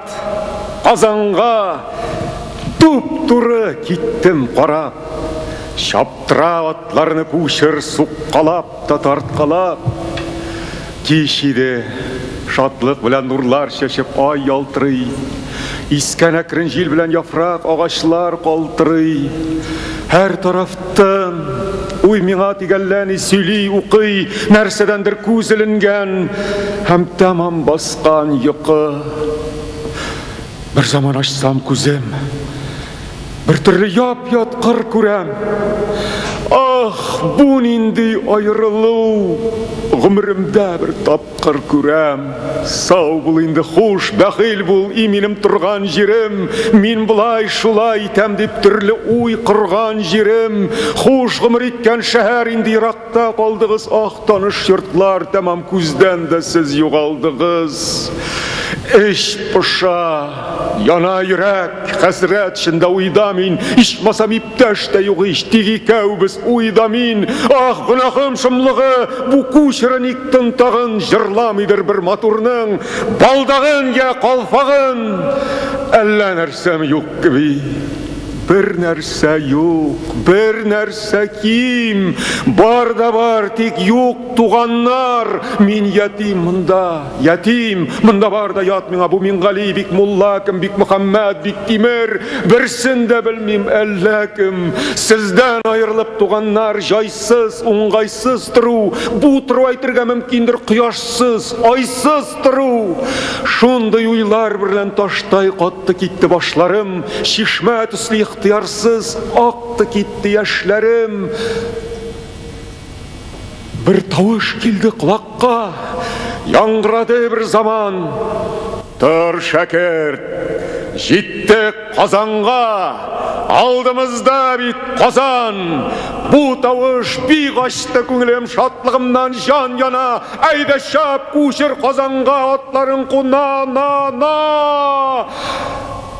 Ат Казанга туп-туры киттем карап. Чаптыра атларны кучер суккалап та тарткалап. Кич иде, шатлык белән нурлар чәчеп ай ялтырый. Искән әкрен җил белән яфрак, агачлар калтырый. Һәр тараф Тын. Уй миңа тигәлләни, сөйли, укый, нәрсәдәндер күз эленгән һәм тәмам баскан йокы. Бер заман ачсам күзем, бер төрле яп-ят кыр күрәм. Ах, бу нинди аерылу! Гомеремдә бер тап Кыр күрәм, сау бул инде, хуш, бәхил бул, и минем торган җирем, мин болай, шулай итәм дип төрле уй корган җирем, хуш гомер иткән шәһәр инде еракта калдыгыз, ах, таныш йортлар, тәмам күздән дә сез югалдыгыз. Эч поша, яна йөрәк, хәсрәт, чында уйда мин, ичмасам, Тәш тә юк ич, тик икәүбез, уй да мин, Ах, гөнаһым шомлыгы, бу кү чыры ник тын тагын, Җырламыйдыр бер матурның балдагын йә калфагын. Әллә нәрсәме юк кеби? Бер нәрсә юк, бер нәрсә ким, Бар да бар, тик юк туганнар, Мин ятим монда. Ятим! Монда бар да ят миңа, бу Мингали, бик мулла кем, бик Мөхәммәд, бик Тимер, берсен дә белмим, әллә кем. Сездән аерылып туганнар, җайсыз, уңгайсыз тору, бу тору әйтергә мөмкиндер, кояшсыз, айсыз тору. Шундый уйлар берлән таштай катты китте башларым, чишмә төсле ихтыярсыз акты китте яшьләрем. Бер тавыш килде колакка, яңгырады бер заман. Тор, шәкерт, җиттек Казанга, алдымызда бит Казан. Бу тавыш бик ачты күңелем, шатлыгымнан җан яна. Әйдә чап, күчер Казанга атларың куна, на, на!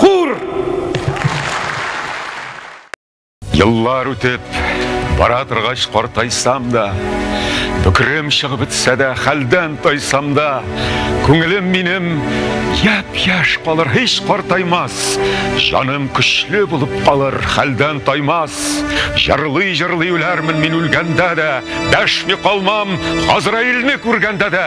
Хур! Еллар үтеп, бара торгач картайсам да, Бөкрем чыгып бетсә дә, хәлдән тайсам да, Күңелем минем яп-яш калыр, һич картаймас, Җаным көчле булып калыр, хәлдән таймас. Җырлый-җырлый үләрмен мин үлгәндә дә, Дәшми калмам, Газраилне күргәндә дә.